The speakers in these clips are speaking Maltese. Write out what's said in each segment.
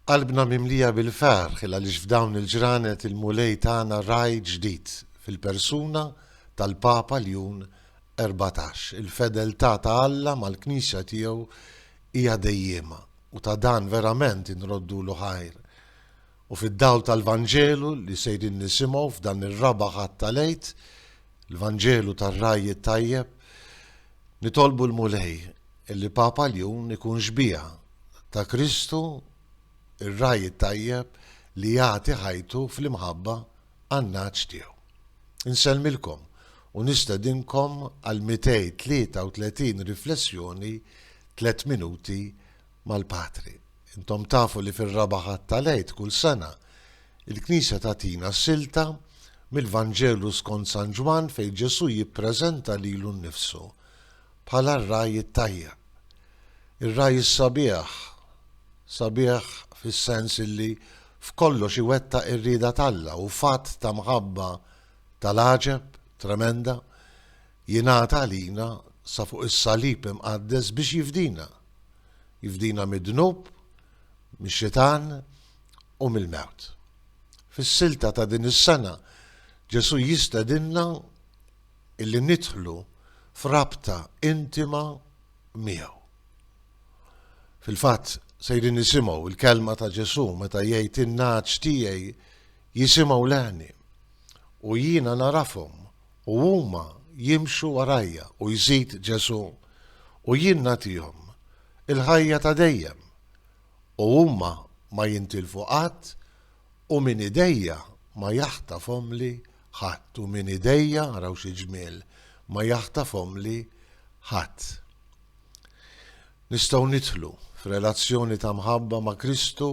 Qalbna mimlija bil-ferħ għaliex f'dawn il-ġranet il-Mulej tana Ragħaj ġdid fil-persuna tal-Papa Ljun Erbatax. Il-fedeltà ta' Alla mal-Knisja tiegħu hija dejjiema u ta' dan verament inroddulu ħajr. U fid-dawl tal-Vanġelu li sejrin nisimgħu f'dan ir-raba' Ħadd tal-Għid, l-Vanġelu tar-Ragħaj it-Tajjeb, nitolbu l-Mulej li Papa Ljun ikun xbieha ta' Kristu, ir-Ragħaj it-Tajjeb li jagħti ħajtu fl-imħabba għan-nagħaġ tiegħu. Insellmilkom u nistedinkom għall-233 riflessjoni Tliet Minuti mal-Patri. Intom tafu li fir-raba' Ħadd tal-Għid kull sena, il-Knisja tagħtina silta mill-Vanġelu skont San Ġwann fejn Ġesù jippreżenta lilu nnifsu bħala r-ragħaj it-tajjeb. Ir-ragħaj is-sabiħ, sabiħ fis-sens illi f'kollox iwettaq ir-rieda t'Alla u f'att ta' mħabba tal-għaġeb, tremenda, Jingħata għalina sa fuq is-salib imqaddes biex jifdina. Jifdina mid-dnub, mix-xitan u mill-mewt. Fis-silta ta' din is-sena Ġesù jistedinna illi nidħlu f'rabta intima miegħu. Fil-fatt sejrin nisimgħu l-kelma ta' Ġesù meta jgħid in-nagħaġ tiegħi jisimgħu leħni u jiena narafhom u huma jimxu warajja u jżid Ġesù, u jien nagħtihom il-ħajja ta' dejjem, u huma ma jintilfu qatt, u minn idejja ma jaħtafhomli ħadd, u minn idejja, araw xi ġmiel, ma jaħtafhomli ħadd. Nistgħu nidħlu f'relazzjoni ta' mħabba ma' Kristu,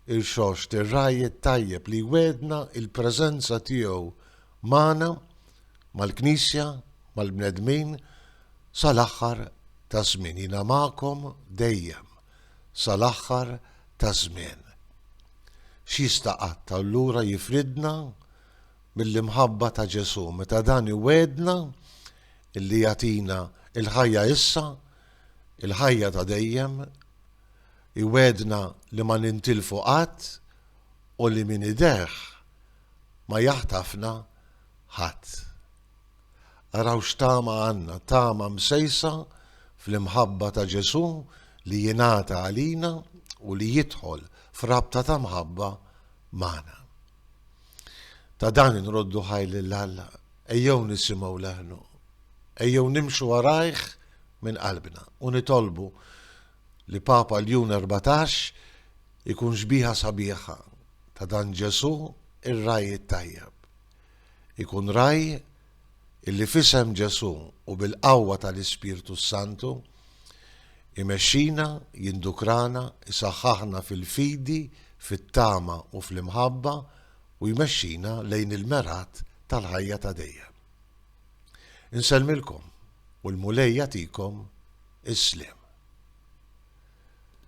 irxoxt, ir-Ragħaj it-Tajjeb li jwegħedna l-preżenza tiegħu Magħna, mal-Knisja, mal-bnedmin, sal-aħħar taż-żmien. Jiena magħkom dejjem, sal-aħħar taż-żmien. X'jista' qatt allura jifridna mill-imħabba ta' Ġesù meta dan iwegħedna illi jagħtina il-ħajja issa, il-ħajja ta' dejjem, iwegħedna li ma nintilfu qatt u li min ideh ma jaħtafna ħadd. Araw x'tama għandna, tama msejsa fl-imħabba ta' Ġesù li jingħata għalina u li jidħol f'rabta ta' mħabba magħna. Ta' dan inroddu ħaj lil Alla, ejjew nisimgħu leħnu, ejjew nimxu warajh minn qalbna u nitolbu li Papa Ljun 14 ikun xbiħa sabiħa ta' dan Ġesù r-ragħaj it-tajjeb. Ikun ragħaj illi f'isem Ġesù u bil-qawwa tal-Ispirtu s-Santu, imexxina, jindukrana, isaħħaħna fil-fidi, fit-tama u fl-imħabba u jmexxina lejn il-mergħat tal-ħajja ta' dejjem. Insellmilkom u l-Mulej jagħtikom is-sliem.